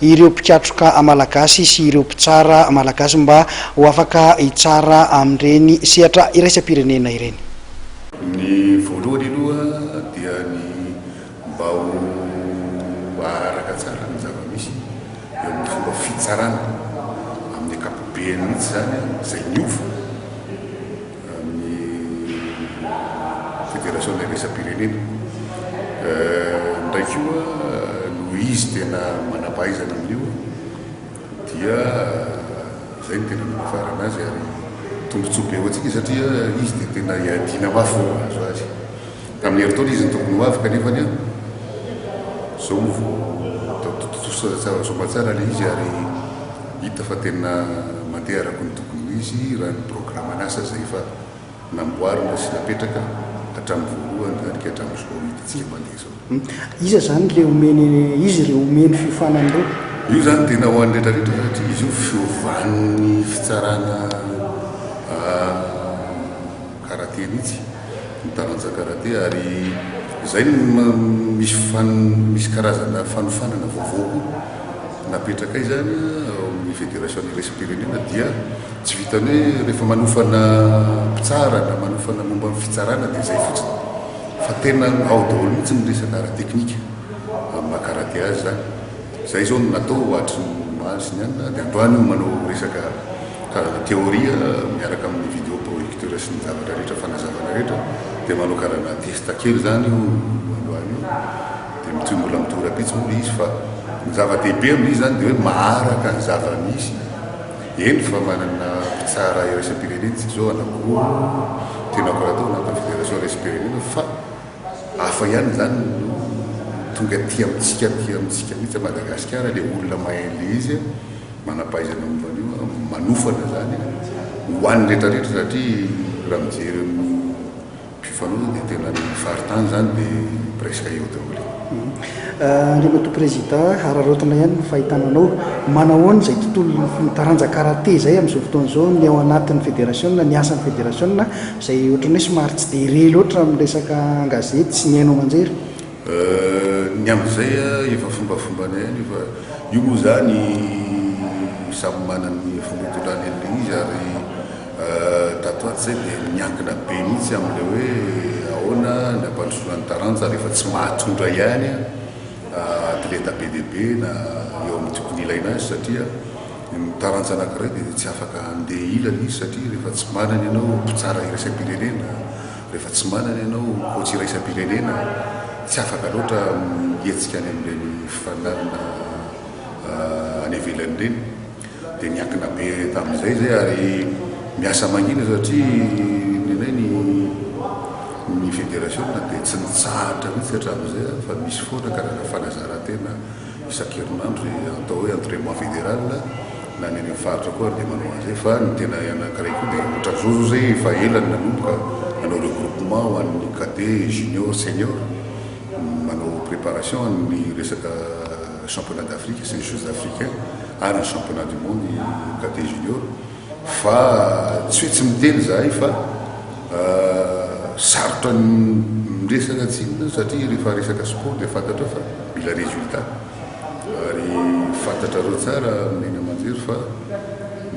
ireo mpikatroka malagasy sy ireo mpitsara malagasy mba ho afaka hitsara amin'ireny sehatra iraisam-pirenena ireny. Ny voalohany aloha dia ny mba ho haharaka tsara ny zava-misy eo amin'ny fomba fitsarana amin'ny ankapobeny mihitsy izany izay miova. ny Fédération na iraisam-pirenena indray koa noho izy tena manam-pahaizana amin'io dia izay no tena manafarana azy ary tombontsoa be ho antsika satria izy dia tena iadiana mafy vao mahazo azy tamin'ny herintaona izy no tokony ho avy kanefa ny izao no vao tontosa soamantsara ilay izy ary Hita fa tena mandeha araka ny tokony ho izy raha ny programan'asa izay efa namboarina sy napetraka hatramin'ny voalohany ary ka hatramin'izao hitantsika mandeha izao. Iza izany le omeny izy ireo omeny fiofanana ireo? Io izany tena ho an'ny retraretra satria izy io fiovan'ny fitsarana. Karate mihitsy ny taranja karate ary izay no misy fan misy karazana fanofanana vaovao koa napetraka izany ao amin'ny federasiona iraisam-pirenena dia tsy vitan'ny hoe rehefa manofana mpitsara na manofana momba ny fitsarana dia izay fotsiny fa tena ao daholo mihitsy ny resaka ara-teknika amin'ny maha karate azy izany. Izay izao no natao hoatry ny omaly sy ny alina dia androany no manao resaka karazana théorie miaraka amin'ny vidéo projecteur sy ny zavatra rehetra fanazavana rehetra dia manao karazana test kely izany io androany io dia mitohy mbola mitohy rapitso moa ilay izy fa ny zava-dehibe amin'izy izany dia hoe maharaka ny zava-misy eny fa manana mpitsara iraisam-pirenena isika izao anankiroa no tiana koa atao anatin'ny fédération iraisam-pirenena fa Hafa ihany izany no tonga aty amintsika aty amintsika mihitsy Madagasikara ilay olona mahay an'ilay izy a, manam-pahaizana momba an'io a, manofana izany ho an'ny rehetrarehetra satria raha mijery amin'ny mpifanolona dia tena ny faritany izany dia presque eo daholo e. Andriamatoa Président, hararaotina ihany ny fahitana anao. Manahoana izay tontolo, ny taranja karate izay amin'izao fotoana izao, ny ao anatin'ny federasiona, ny asan'ny federasiona, Izay ohatran'ny hoe somary tsy dia re loatra amin'ny resaka an-gazety sy ny haino aman-jery. Ny amin'izay efa fombafombanay any io fa io moa izany samy manana ny fomba itondrany an'ilay izy ary tato ato izay dia miankina be mihitsy amin'ilay hoe ahoana ny hampandrosoana ny taranja rehefa tsy mahatondra ihany atleta be dia be na eo amin'ny tokony ilaina azy satria Ny taranja anankiray dia tsy afaka handeha hilany izy satria rehefa tsy manana ianao mpitsara iraisam-pirenena, rehefa tsy manana ianao coach iraisam-pirenena, tsy afaka loatra mihetsika any amin'ireny fifaninanana any ivelany ireny. Dia niankina be tamin'izay izay ary miasa mangina satria ny anay ny ny federasiona dia tsy nitsahatra mihitsy hatramin'izay fa misy foana karazana fanazaran-tena isan-kerinandro izay atao hoe entrainement federal na ny any amin'ny faritra koa ary dia manao an'izay fa ny tena anankiray koa dia ohatra zao zao zay efa ela ny nanomboka nanao regroupement ho an'ny cadet junior senior manao préparation amin'ny resaka championnat d'Afrique c'est les jeux africains ary ny championnat du monde cadet junior Fa tsy hoe tsy miteny izahay fa sarotra ny miresaka tsy inona satria rehefa resaka sport dia fantatrao fa mila résultat. Ary fantatrareo tsara mihaino aman-jery fa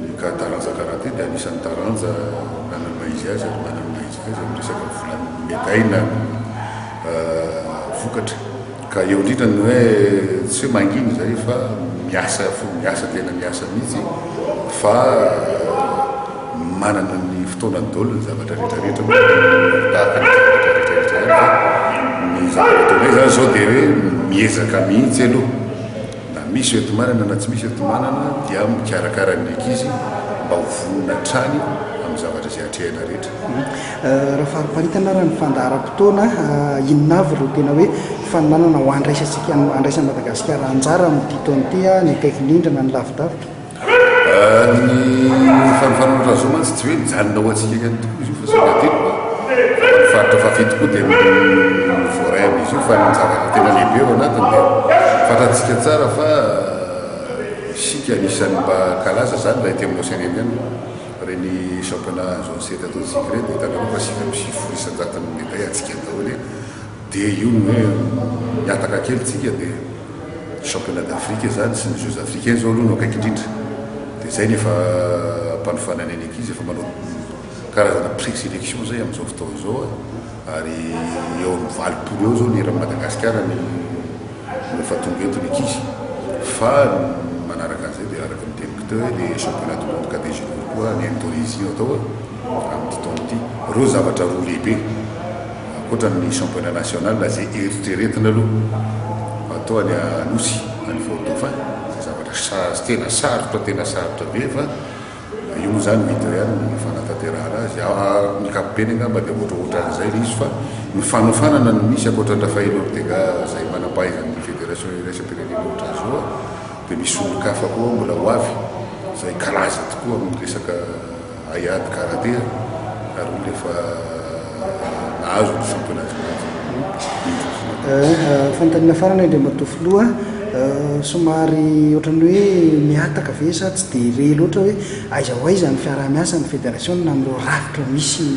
ny cas taranja karaté dia anisan'ny taranja nanana ny maha izy azy ary manana ny maha izy azy amin'ny resaka volan'ny médaille na ny vokatra. Ka eo indrindra ny hoe tsy hoe mangina izay fa miasa fo miasa tena miasa mihitsy fa manana ny fotoanany daholo ny zavatra rehetra rehetra moa tahaka ny zavatra rehetra rehetra ihany fa ny zavatra ataonay izany izao dia hoe miezaka mihitsy aloha na misy eto manana na tsy misy eto manana dia mikarakara ny ankizy mba ho vonona hatrany amin'ny zavatra izay atrehina rehetra. Raha fariparitana ary ny fandaharam-potoana, inona avy ireo tena hoe fananana ho andraisantsika, andraisan'i Madagasikara anjara amin'ity taona ity, na ny akaiky indrindra na ny lavidavitra? Ny fanofanana raha izao mantsy tsy hoe mijanona ho antsika ihany tokoa izy io fa saika hatreto ny faritra fahafito koa dia mi-voaray amin'izy io fa ny zavatra tena lehibe ao anatiny dia fantantsika tsara fa isika anisan'ny mba kalaza izany raha ety amin'ny Océan Indien. Ireny championnat azo an'ny sehatra toristika ireny dia hitanareo fa sivy amby sivifolo isan-jaton'ny médaille hatsiaka daholo e! dia io no hoe mihataka kely tsika dia championnat d'Afrique izany sy ny jeux africains izao aloha no akaiky indrindra dia izay no efa ampanofanana ny ankizy efa manao karazana pré-sélection izay amin'izao fotoana izao a! Ary eo amin'ny valopolo eo izao ny eran'i Madagasikara no efa tonga eto ny ankizy. Fa manaraka an'izay dia araka ny teniko teo hoe ilay championnat du monde cadet junior koa any Indonesie no atao amin'ity taona ity. Ireo zavatra roa lehibe ankoatra ny championnat national izay eritreretina aloha atao any Anosy, any Fort Dauphin. Izay zavatra tena sarotra, tena sarotra be fa. Io moa izany vita ihany ny fanatanterahana azy. Amin'ny ankapobeny angamba dia ohatrohatran'izay ilay izy fa ny fanofanana no misy ankoatran-dRafael Ortega izay manam-pahaizan'ny federasiona iraisam-pirenena ohatra Zoa dia misy olon-kafa koa mbola ho avy izay kalaza tokoa amin'ny resaka haiady karatea ary hoy ilay fa Azo ny fiompana kilaoty kokoa eto Fianarantsoa. Fanontaniana farany Andriamatoa Filoha, somary ohatran'ny hoe mihataka ve sa tsy dia re loatra hoe aiza ho aiza ny fiaraha-miasan'ny Federasiona amin'ireo rafitra misy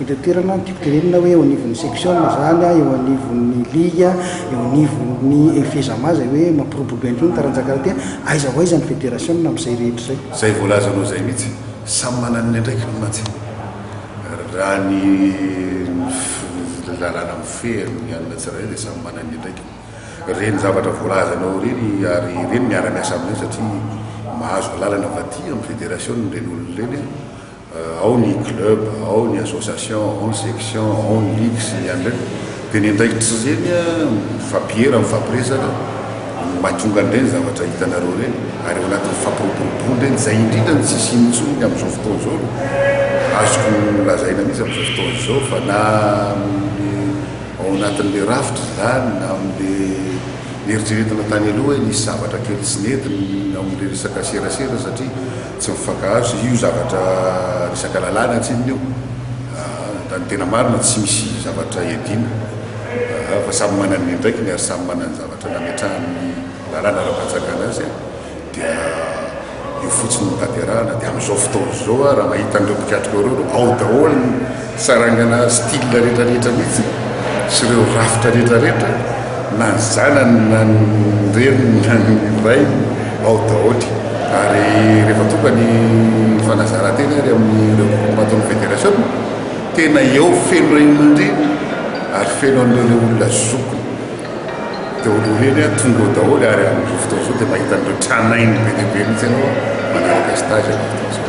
eto an-toerana, tiako tenenina hoe eo anivon'ny seksiona izany, eo anivon'ny liga, eo anivon'ny FEJAMA izay hoe mampiroborobo ihany koa ny taranja karate, aiza ho aiza ny Federasiona amin'izay rehetra izay? Izay voalazanao izay mihitsy, samy manana ny andraikiny mantsy. Raha ny lalàna mifehy ny alina tsirairay dia samy manana ny andraikiny. Ireny zavatra voalazanao ireny ary ireny miara-miasa amin'ireny satria mahazo alalana avy aty amin'ny federasiona ireny olona ireny, ao ny club, ao ny association, ao ny section, ao ny ligue sy ny an'ireny Dia ny andraikitry ireny mifampihera, mifampiresaka no mahatonga an'ireny zavatra hitanareo ireny. Ary ao anatin'ny fampiroboroboana ireny, izay indrindra no tsy hisiany intsony ny amin'izao fotoana izao no azoko lazaina mihitsy amin'izao fotoana izao fa na amin'ny ao anatin'ilay rafitra izany na amin'ilay neritreretina tany aloha hoe nisy zavatra kely tsy nety ny ao amin'ilay resaka serasera satria Tsy mifankahazo io zavatra resaka lalàna antsininy io a! Ny tena marina tsy misy zavatra iadiana a! Fa samy manana ny andraikiny ary samy manana ny zavatra nametrahan'ny lalàna ara-panjakana azy a! Dia eo fotsiny no tanterahana, dia amin'izao fotoana izao a! Raha mahita an'ireo mpikatroka ireo, ao daholo ny. Sarangana style rehetra rehetra mihitsy sy ireo rafitra rehetra rehetra na ny zanany na ny reniny na ny rainy ao daoly ary rehefa tonga ny fanazarantena ary amin'ny ireo mpamaton'ny federation tena eo feno reny aman-dreny ary feno an'ireo le olona zokiny daoly ireny a tonga ao daoly ary amin'izao fotoana izao dia mahita an'ireo tranainy be dia be mihitsy ianao manaraka stage amin'izao fotoana izao.